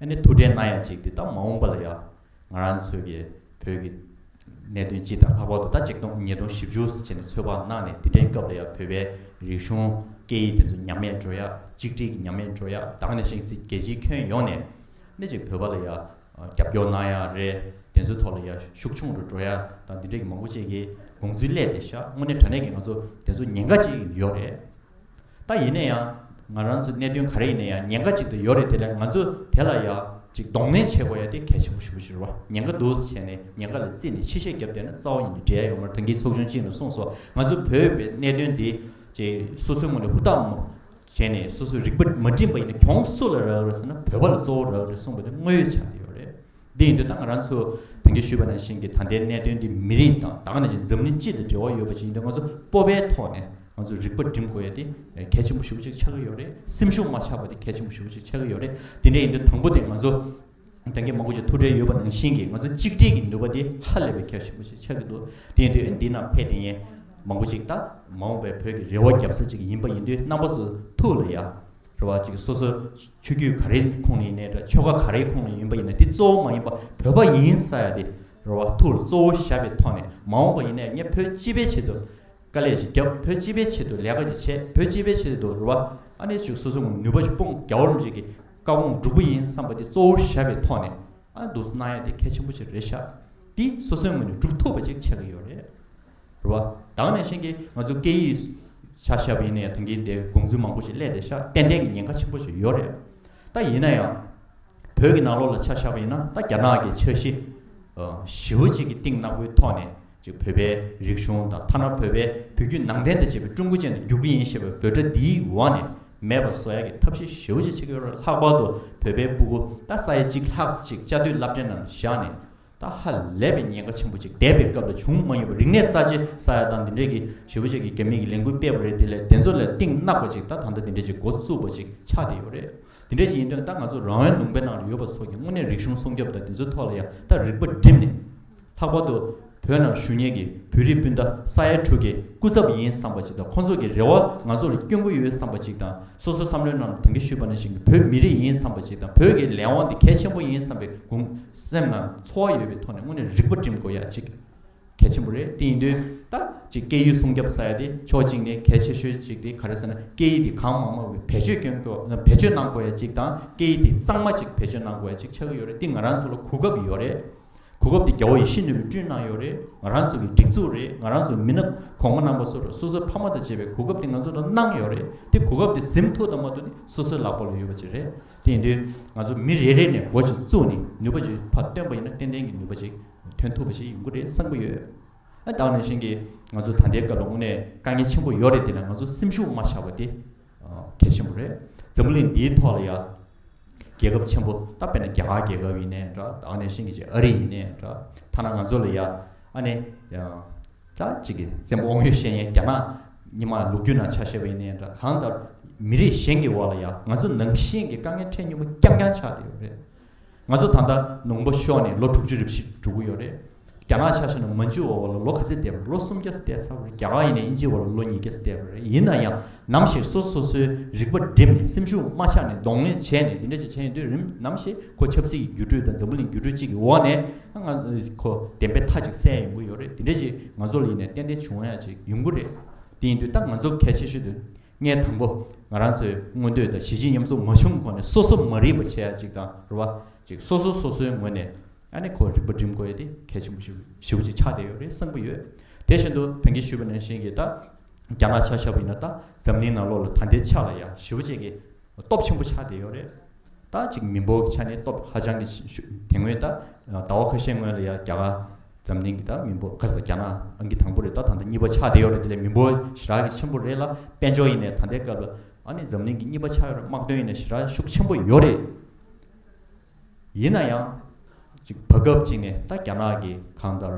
ཨ་ནི་ཐུགས་འབྲེལ་གནང་ཡ་གཅིག་དེ་ད་མ་འོངས་པ་ལ་ཡང་ང་རང་ཚོས་ཀྱི་བོད་ཀྱི་གནད་དོན་སྤྱི་དང་ལྷག་པར་དུ་ད་ཆིག་སྟོང་ཉིས་སྟོང་བཞི་བཅུ་ཟེར་ནས་ཚོད་དཔག་གནང་ནས་དེ་འདྲའི་སྐབས་ལ་ཡང་བོད་པའི་རིག་གཞུང་སྐད་ཡིག་དེ་ཚོ་ཉམས་མེད་འགྲོ་ཡ་གཅིག་སྒྲིལ་གྱི་ཉམས་མེད་འགྲོ་ཡ་དྭངས་ནས་ཤིང་རྩི་རྒྱལ་སྤྱིའི་ཁྱོན་ཡོངས་ནས་ནི་ཅིག་བོད་པ་ལ་ཡང་རྒྱབ་སྐྱོར་གནང་ཡག་རེད་གདན་སའི་ཐོག་ལ་ཡར་ཤུགས་ཆུང་རུ་འགྲོ་ཡག་དང་འདི་འདྲས་ཀྱི་མང་པོ་བཅས་ཀྱི་དགོངས་ཚུལ་གླས་ཏེ་ཤག་དངོས་གནས་དྲ་གནས་ཀྱི་ང་ཚོ་གདན་སའུ་ཉེན་ཁ་ཅིག་ཡོད་རེད་ད་ཡིན་ན་ཡང་ང་རང་ཚོ་གནས་དོན་ག་རེ་ཡིན་ན་ཡང་ཉེན་ཁ་ཅིག་ཏུ་ཡོད་རེད་དེ་ལས་ང་ཚོ་དེ་ལ་ཡག་ཅིག་གདོང་ལེན་བྱེད་དགོས་ཡག་དེ་གལ་ཆེན་པོ་ཞུ་ཞུ་བ་ཉེན་ཁ་འདུག་བྱས་ནས་ཉེན་ཁ་ལ་བརྩིས་ནས་ཕྱི་བཤད་བརྒྱབ་བསྡད་ན་རྩ་བ་ཉིད་ནས་འབྲེལ་ཡག་ཡོད་མ་རེད་ཐོན་སྐྱེད་ཚོགས་ཆུང་གཅིག་ནས་གསུངས་སོ་ང་ཚོ་བོད་པའི་གནས་དོན་འདི་ཅེས་སོ་སོའི་ངོས་ནས་ཧུར་ཐག་བྱས་ནས་སོ་སོའི་རིག་པ་མ་འགྲིམས་པ་ཡིན་ན་གྱོང་སུ་ལ་རག་རེད་ཟེར་ན་བོད་པ་ལ་གཙོ་བོ་རག་རེད་གསུངས་པ་དེ་དངོས་ཡོད་ཆགས་ཀྱི་ཡོད་རེད། འདི་ཡིན་དུས་ད་ང་རང་ཚོ་དེང་གི་ཞུས་པ་ནང་བཞིན་གྱི་ད་ལྟའི་གནད་དོན་འདི་མི་རིགས་དང་ད་ག་ནང་བཞིན་འཛམ་གླིང་སྤྱི་དང་འབྲེལ་བ་ཡོད་པ་ཞིག་ཡིན་དུས་ང་ཚོ་སྤོབས་པའི་ཐོག་ནས་ང་ཚོ་རིག་པ་འགྲིམས་དགོས་ཡ་དེ་གལ་ཆེན་པོ་ཞུ་བ་ཞིག་ཆགས་ཀྱི་ཡོད་རེད་སེམས་ཤུགས་མ་ཆགས་པ་དེ་གལ་ཆེན་པོ་ཞུ་བ་ཞིག་ཆགས་ཀྱི་ཡོད་རེད་དེ་འདྲ་ཡིན་དུས་དང་པོ་དེ་ང་ཚོ་དོན་གྱིས་མང་པོ་ཞིག་ཐུག་འཕྲད་ཡོད་པ་ནང་བཞིན་གྱི་ང་ཚོ་གཅིག་སྒྲིལ་གྱི་ནུས་པ་དེ་ཧ་ལས་པའི་ཁྱད་ཆེན་པོ་ཞིག་ཆགས་ཀྱི་འདུག་དེ་ཡིན་དུས་འདི་ན་ཕེབས་ཏེ་ངས་མང་པོ་ཞིག་ད་མ་འོངས་པའི་བོད་ཀྱི་རེ་བ་བརྒྱབ་ས་ཅིག་ཡིན་པ་ཡིན་དུས་རྣམ་པ་སུ་ཐུག་ལ་ཡ་རེ་བ་ཅིག་སོ་སོའི་ཆོས་བརྒྱུད་ག་རེའི་ཁོངས་ནས་ཡིན་ནའི་དྲ་ཆོ་ག་ག་རེའི་ཁོངས་ནས་ཡིན་པ་ཡིན་ནའི་དེ་གཙོ་བོ་མ་ཡིན་པ་བོད་པ་ཡིན་ས་ཡ་དེ་རེ་བ་ཐུག་ལ་གཙོ་བོ་ཞབས་པའི་ཐོག་ནས་མ་འོངས་པ་ཡིན་ནའི་ངས་བོད་སྤྱི་པའི་ཆེད་དུ་དཀའ་ལས་ཞིག་བརྒྱབ་བོད་སྤྱི་པའི་ཆེད་དུ་ལས་ཀ་ཞིག་བྱས་བོད་སྤྱི་པའི་ཆེད་དུ་རེ་བ་ཨ་ནེ་ཞིག་སོ་སོ་ངོས་ནུས་པ་ཞིག་སྤུངས་རྒྱ་བོར་མི་བྱེད་ཀྱི། བཀའ་དགོངས་འགྲུབ་པོ་ཡིན་བསམ་པ་དེ་གཙོ་བོར་བཞག་པའི་ཐོག་ནས་འདུག་སོ་སྣང་ཡ་དེ་གལ་ཆེན་པོ་ཆེ་རེད་ཤག་འདི་སོ་སོའི་ངོས་ནས་གྲུབ་ཐུབ་པ་ཅིག་བྱེད་ཀྱི་ཡོད་རེད་རེད་བ། དྭངས་ནས་ཤེས་ཀྱི་ང་ཚོ་སྐད་ཡིག་བྱ་ཞབས་ཡིན་ན་ཡང་དོན་གྱིས་འདི་དགོངས་ཚུལ་མང་པོ་ཞིག་གླས་ཏེ་ཤག་ཏན་ཏན་གྱི་ཉེན་ཁ་ཆེན་པོ་ཞིག་ཡོད་རེད་ད་ཡིན་ན་ཡང་བོད་ཀྱི་ནང་ལོགས་ལ་བྱ་ཞབས་ཡིན་ན་ད་རྒྱ་ནག་གི་འཆར་གཞི་ཞིབ་བོ་ཅིག་གི་སྟེང་ནག་པོའི་ཐོག་ནས་ཅེས་བོད་པའི་རིག་གཞུང་དང་ཐ་ན་བོད་པའི་བུ་རྒྱུད་ནང་བསྟན་དང་བཅས་པའི་ཀྲུང་གོ་ཅན་དུ་བསྒྱུར་གྱི་ཡིན་ཞེས་པའི་འབོད་སྒྲ་འདིའི་འོག་ནས་མེད་པར་བཟོ་ཡག་གི་ཐབས་ཤེས་ཞེ་བོ་ཅིག་བྱེད་ཀྱི་ཡོད་རེད་ལྷག་པར་དུ་བོད་པའི་སྤུ་གུ་རྟ་ས་ཡ་གཅིག་ལྷག་ཅིག་བཅའ་སྡོད་རླབས་ཕྲེང་ནང་བཞག་ནས་ད་ཧ་ལས་པའི་ཉེན་ཁ་ཆེན་པོ་ཅིག་འདས་པའི་སྐབས་ལ་བྱུང་མ་མྱོང་བའི་རིག་གནས་གསར་བརྗེ་ས་ཡ་དང་འདི་འདྲས་ཀྱི་ཞེ་བོ་ཅིག་གིས་རྒྱ་མི་གི་ལས་འགུལ་སྤེལ་བ་རེད་དེ་ལས་བདེན་ཚོར་ལས་གཏིང་གནག་པ་ཅིག་ད་ད་ལྟ་འདི་འདྲས་ཅིག་འགོ་བཙུགས་པ་ཅིག་ཆགས་བསྡད་ཡོད་རེད་འདི་འདྲས་ཅིག་ཡིན་དོན་ད་ང་ཚོ་རང་དབང་ལུང་པའི་ནང་ལ་ཡོད་པ་ཚོ་ཀྱིས་དངོས་གནས་རིག་གཞུང་སྲུང་སྐྱོབ་དང་དེ་ཚོའི་ཐོག་ལ་ཡང་ད་རིག་པ་བསྒྲིམས་ནས་ལྷག་པར་དུ་བོད་ནང་ཞུ་ཉེ་གི་བོད་རིགས་སྤུན་ཟླ་ས་ཡ་དྲུག་གི་སྐུ་ཚབ་ཡིན་བསམ་པ་ཅིག་དང་ཁོང་ཚོ་གི་རེ་བ་ང་ཚོར་སྐྱོན་གུ་ཡོད་བསམ་པ་ཅིག་དང་སོ་སོ་བསམ་བློའི་ནང་ལ་དོན་གྱི་ཞུས་པ་ནང་བཞིན་གི་བོད་མི་རིགས་ཡིན་བསམ་པ་ཅིག་དང་བོད་ཀྱི་ལས་དབང་དེ་གལ་ཆེན་པོ་ཡིན་བསམ་པའི་གུང་སེམས་ལ་འཚོ་བ་ཡོད་པའི་ཐོག་ནས་དངོས་ནས་རིག་པ་སྒྲིམ་དགོས་ཡ་གཅིག་གལ་ཆེན་པོ་རེད་དེ་ཡིན་དུས་ད་ཅི་སྐད་ཡུལ་སྲུང་སྐྱབས་ས་ཡ་དེ་ཕྱོགས་གཅིག་ནས་གལ་ཆེ་ཤོས་ཅིག་དེ་ག་རེ་ཟེར་ན་སྐད་ཡིག་དེ་གང་མང་མང་བའི་བེད་སྤྱོད་སྐྱོན་དགོས་བེད་སྤྱོད་གནང་དགོས་ཡ་གཅིག་དང་སྐད་ཡིག་དེ་གཙང་མ་ཅིག་བེད་སྤྱོད་གནང་དགོས་ཡ་གཅིག་ཆགས་ཀྱི་ཡོད་རེད་དེ་ང་རང་ཚོ་ལ་གོ་སྐབས་ཡོད་རེད་གོ་སྐབས་འདི་རྒྱ་བོ་ཡིས་ཤིན་ཏུ་མི་བསྐྲུན་གནང་ཡོད་རེད་ང་རང་ཚོ་གི་སྒྲིག་འཛུགས་རེད་ང་རང་ཚོ་མི་ནག་གོང་མ་རྣམ་པ་ཚོར་སོ་སོའི་ཕ་མ་དང་བཅས་པའི་གོ་སྐབས་འདི་ང་ཚོ་ལ་གནང་ཡོད་རེད་དེ་གོ་སྐབས་འདི་གཟིམ་ཐུག་དང་མ་ཐུག་ནི་སོ་སོའི་ལག་པ་ལ་ཡོད་པ་ཅིག་རེད་དེ་ཡིན་དུས་ང་ཚོ་མི་རེ་རེ་ནས་མགོ་ཅིག་བཙུགས་ནས་ནུས་པ་ཅིག་ཕ་བཏོན་པ་ཡིན་ན་ཏན་ཏན་གྱི་ནུས་པ་ཅིག་ཐོན་ཐུབ་པ་ཞིག་ཡོང་གི་རེད་བསམ་གྱི་ཡོད། བདག་ནང་བཞིན་གྱིས་ང་ཚོ་ད་ལྟའི་སྐབས་ལ་དངོས་གནས་དཀའ་ངལ་ཆེན་པོ་ཡོད་རེད་དེ་ལ་ང་ཚོ་སེམས་ཤུགས་མ་ཆག་པ་དེ། གལ་ཆེན་པོ་རེད། འཛམ་བུ་གླིང་འདིའི་ཐོག་ལ་ཡ། རྒྱལ་ཁབ་ཆེན་པོ་ད་དཔེར་ན་རྒྱ་གར་རྒྱལ་ཁབ་ཡིན་ནས་འདྲ། ཨ་ནེ་ཤིང་གི་ཅེས་ཨ་རི་ཡིན་ནས་འདྲ། ཐ་ན་ང་ཚོ་ལ་ཡ། ཨ་ནེ། ད་ཅིག་གི་བཙན་པོ་དབང་ཡོད་ཤེས་ཡན་རྒྱ་ནག། ཉི་མ་ལུག་རྒྱུད་ནང་ཆ་ཤས་པ་ཡིན་ནས་འདྲ་གང་ལྟར། མི་རིགས་གཞན་གྱི་འོག་ལ་ཡ་ང་ཚོ་ནང་བཞིན་གྱི་དཀའ་ངལ་འཕྲད་མྱོང་པ་རྐྱང་རྐྱང་ཆགས་བསྡད་ཡོད་རེད། ང་ཚོ་ད་ལྟ་ནུང་པ་ཤོར་ནས་ལོ་དྲུག་ཅུ་རེ་བཞི་འགྲོ་གི་ཡོད་རེད། རྒྱ་ནག་ཆ་ཤས་ནང་མ་འཇུག་འོག་ལ་ལོ་ག་ཚད་བསྡད་པ་རེད་ལོ་སུམ་བརྒྱ་བསྡད་ཚར་བ་རེད་རྒྱ་གར་ཡིན་ནས་དབྱིན་ཇིའི་འོག་ལ་ལོ་ཉིས་བརྒྱ་བསྡད་པ་རེད་ཡིན་ན་ཡང་ནམ་ཞིག་སོ་སོ་སོའི་རིག་པ་བསྒྲིམས་ནས་སེམས་ཤུགས་མ་ཆག་ནས་གདོང་ལེན་བྱས་ནས་འདི་འདྲ་ཅིག་བྱས་ཡོང་དུས་རིམ་ནམ་ཞིག་ཁོ་ཆབ་སྲིད་ཀྱི་འགྱུར་འགྲོས་དང་འཛམ་བུ་གླིང་འགྱུར་འགྲོས་གཅིག་གི་འོག་ནས་ང་ཁོ་བདེན་པའི་མཐའ་ཅིག་གསལ་ཡོང་གི་ཡོད་རེད་འདི་འདྲ་ཅིག་ང་ཚོ་ལ་ཡིན་ནས་ཏན་ཏན་བྱུང་ཡ་ཅིག་ཡོང་གི་རེད་དེ་ཡིན་དུས་ད་ང་ཚོ་གལ་ཆེ་ཤོས་དུ་ལྔའི་དང་པོ། ང་རང་ཚོས་མངོན་འདོད་དང་གཞི་གཅིག་མཉམ་ཟུང་མ་བྱུང་གོང་ནས་སོ་སོ་མ་རིག་པ་ཆེ་ཡག་ཅིག་དང་རུ་བ་ཅིག་སོ་སོ་སོ་སོའི་ངོས་ནས་ཨ་ནེ་ཁོ་རིག་པ་འགྲིམ་དགོས་ཡོད་དེ་གལ་ཆེན་པོ་ཞིག་ཞི་བོ་ཅིག་ཆགས་བསྡད་ཡོད་རེད་བསམ་གྱི་ཡོད། དེ་བཞིན་དུ་དོན་གྱིས་ཞུས་པ་ནང་བཞིན་གྱི་ད་རྒྱ་ནག་ཆ་ཤ་བོ་ཡིན་ན་ད་འཛམ་གླིང་ནང་ལོགས་ལ་ད་འདི་ཆ་ལ་ཡ་ཞི་བོ་ཅིག་གི་སྟོབས་ཆེན་པོ་ཆགས་བསྡད་ཡོད་རེད། ད་ཅིག་མི་འབོར་གྱི་ཆ་ནས་སྟོབས་ཧ་ཅང་གི་ཆེ་ཞུ་དེ་སྔོན་ད་ཟླ་བ་ཁ་ཤས་སྔོན་ལ་ཡ་རྒྱ་གར་འཛམ་གླིང་གི་ད་མི་འབོར་ཁ་ཟེར་རྒྱ་ནག་གི་དང་པོ་རེད་ད་ད་ལྟ་གཉིས་པ་ཆགས་བསྡད་ཡོད་རེད་དེ་ལས་མི་འབོར་ཞེ་དྲག་གི་ཆེན་པོ་རེད་ལ་དཔལ་འབྱོར་ཡིན་ནས་ད་ལྟའི་སྐབས་ལ་ཨ་ནི་འཛམ་གླིང་གི་གཉིས་པ་ཆགས་ཡོད་རེད་དམག་དོན་ཡིན་ནས་ཞེ་དྲག་ཤུགས་ཆེན་པོ་ཡོད་རེད། ཡིན་ན་ཡང། གཅིག་བར་སྐབས་གཅིག་ནས་ད་རྒྱ་ནག་གི་གང་ལྟར་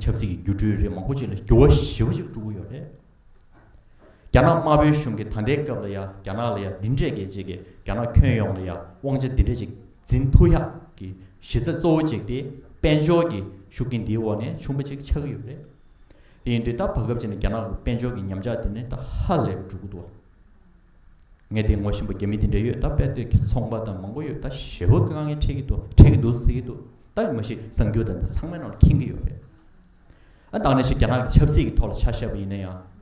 ཆབ་སྲིད་ཀྱི་སྒྱུ་འཕྲུལ་རེ་མང་པོ་ཅིག་ལ་འགྱུར་བ་ཞིབ་པོ་ཅིག་སྤྲོ་གི་ཡོད་རེད། རྒྱ་ནག་དམར་པོའི་གཞུང་གིས་ད་ལྟའི་སྐབས་ལ་ཡང་རྒྱ་ནག་ལ་ཡང་འདི་འདྲས་གལ་ཆེ་གི་རྒྱ་ནག་ཁྱོན་ཡོངས་ལ་ཡང་དབང་ཆ་འདི་འདྲས་ཅིག་འཛིན་ཐུག་ཡག་གི་གཞི་རྩ་གཙོ་བོ་གཅིག་དེ་དཔལ་འབྱོར་གྱི་ཤུགས་རྐྱེན་འདིའི་འོག་ནས་བྱུང་བ་ཅིག་ཆགས་ཀྱི་ཡོད་རེད། དེ་ཡིན་དུས་ད་བར་སྐབས་ཅིག་ནས་རྒྱ་ནག་གི་དཔལ་འབྱོར་གྱི་ཉམས་ཆག་དེ་ནི་ད་ཧ་ལས་པའི་འགྲོ་གི་འདུག་ངས་དེ་ངོ་བཞིན་པ་རྒྱ་མི་དེ་འདྲས་ཡོད་ད་དཔལ་དེབ་ཀྱི་ཚོང་པ་དང་མང་པོ་ཡོད་ད་ཞེ་བོ་དཀའ་ངལ་འཕྲད་ཀྱི་འདུག་འཕྲད་ཀྱི་འདུག་ཟེར་གྱི་འདུག་ད་མ་གཞི་གསང་རྒྱུ་དང་འདི་ཚང་མའི་ནང་ལ་འཁྱེན་གྱི་ཡོད་རེད། བཏང་ནས་ཤིག་རྒྱ་ནག་གི་ཆབ་སྲིད་ཀྱི་ཐོག་ལ་ཆ་བཤད་པ་ཡིན་ན་ཡང།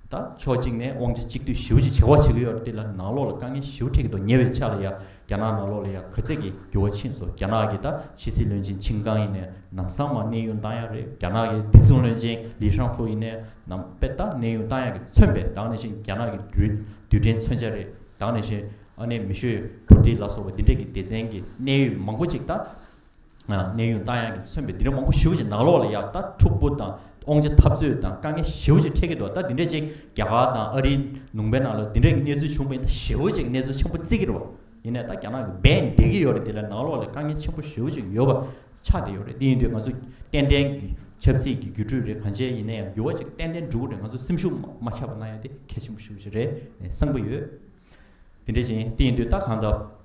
ད་ཕྱོགས་གཅིག་ནས་དབང་ཆ་གཅིག་སྡུད་ཞིབ་ཅིག་བྱེད་དགོས་བྱེད་ཀྱི་ཡོད་རེད་དེ་ལ་ནང་ལོགས་ལ་དཀའ་ངལ་ཞིབ་འཕྲད་ཀྱི་འདུག་ཉེ་བའི་ཆ་ལ་ཡང་རྒྱ་ནག་ནང་ལོགས་ལ་ཡང་གུས་བརྩེ་གྱི་འགྱུར་བ་ཕྱིན་སོང་རྒྱ་ནག་གི་ད་ཕྱི་སྲིད་བློན་ཆེན་ཆིང་ཀང་ཡིན་ནས་ནམ་སང་མ་གནས་ཡུན་བཏང་ཡག་རེད་རྒྱ་ནག་གི་བདེ་སྲུང་བློན་ཆེན་ལི་ཧྲང་ཧྥུ་ཡིན་ནས་ནམ་དཔེ་ད་གནས་ཡུན་བཏང་ཡག་གི་མཚོན་པའི་བཏང་ནས་ཤིག་རྒྱ་ནག་གི་འདུལ་དུས་དྲན་མཚོན་ཆ་རེད་བཏང་ནས་ཤིག་ཨ་ནེ་མི་ཤོས་བུ་དྷི་ལ་སོགས་པ་འདི་འདྲ་གི་སྡེ་ཚན་གྱི་གནད་ཡོད་མང་པོ་ཅིག་ད། གནས་དབྱུང་རྟ་དབྱངས་ཀྱིས་མཚོན་པའི་དིང་རི་མང་པོ་ཞིབ་ཅིང་ནག་ལོག་ལ་ཡག་ལྟ་འཁྲུག་པོ་དང་ཨོང་ཆ་འཐབ་རྩོད་དང་དཀའ་ངལ་ཞིབ་ཅིང་འཕྲད་ཀྱི་འདུག་ལྟ་དེ་འདྲའི་ཅིག་རྒྱ་གར་དང་ཨ་རིའི་ནུང་པའི་ནང་ལ་དེ་འདྲའི་གི་གནས་ཚུལ་བྱུང་མེད་ལྟ་ཞིབ་ཅིང་གནས་ཚུལ་ཆེན་པོ་བརྩི་གི་རོགས་ཡིན་ནས་ལྟ་རྒྱ་ནག་གི་སྦས་ནས་བསྡད་ཀྱི་ཡོད་རེད་དེ་ལ་ནག་ལོག་ལ་དཀའ་ངལ་ཆེན་པོ་ཞིབ་ཅིག་ཡོད་པ་ཆགས་བསྡད་ཡོད་རེད་དེ་ཡིན་དུས་ང་ཚོ་ཏན་ཏན་གི་ཆབ་སྲིད་ཀྱི་རྒྱུ་འཕྲུལ་རེད་གང་བྱས་ཡིན་ན་ཡང་འགྱུར་བ་ཅིག་ཏན་ཏན་འགྲོ་གི་རེད་ང་ཚོ་སེམས་ཤུགས་མ་ཆགས་པ་གནང་ཡོད་དེ་གལ་ཆེན་པོ་ཞིབ་ཅིག་རེད་བསམ་གི་ཡོད་དེ་འདྲའི་ཅིག་དེ་ཡིན་དུས་ལྟ་གང་ལྟ།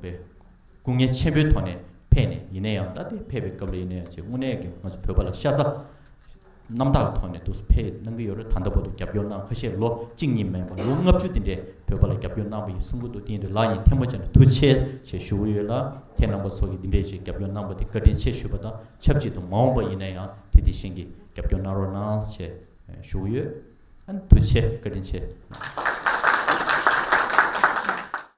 པའི་སྐུ་ངལ་ཆེན་པོའི་ཐོག་ནས་ཕེབས་ནས་ཡིན་ན་ཡང་ད་ལྟའི་ཕེབས་པའི་སྐབས་ལ་ཡིན་ན་ཡང་ཆེས་དངོས་གནས་ཀྱི་ང་ཚོ་བོད་པ་ལ་ཤ་ཚ་རྣམ་དག་གི་ཐོག་ནས་དུ་སུ་ཕེབས་གནང་གི་ཡོད་རེད་ད་ལྟ་བར་དུ་རྒྱབ་སྐྱོར་གནང་ཁ་ཤས་ལོ་གཅིག་གཉིས་མིན་པར་ལོ་ལྔ་བཅུ་དེ་འདྲའི་བོད་པ་ལ་རྒྱབ་སྐྱོར་གནང་བ་ཡིན་སུ་མགོ་ཐུག་སྟེང་དུ་ལག་གཉིས་ཐལ་མོ་བྱས་ནས་ཐུགས་ཆེ་ཞེས་ཞུ་གི་ཡོད་ལ་ཁྱེད་རྣམ་པ་སོགས་ཀྱིས་འདི་འདྲའི་ཆེད་རྒྱབ་སྐྱོར་གནང་བ་དེ་བཀའ་དྲིན་ཆེ་ཞུ་བ་དང་ཆབས་ཅིག་ཏུ་མ་འོངས་པ་ཡིན་ན་ཡང་དེ་དེ་བཞིན་གྱི་རྒྱབ་སྐྱོར་གནང་རོགས་གནང་ཞེས་ཞུ་གི་ཡོད། ཐུགས་ཆེ་བཀའ་དྲིན་ཆེ།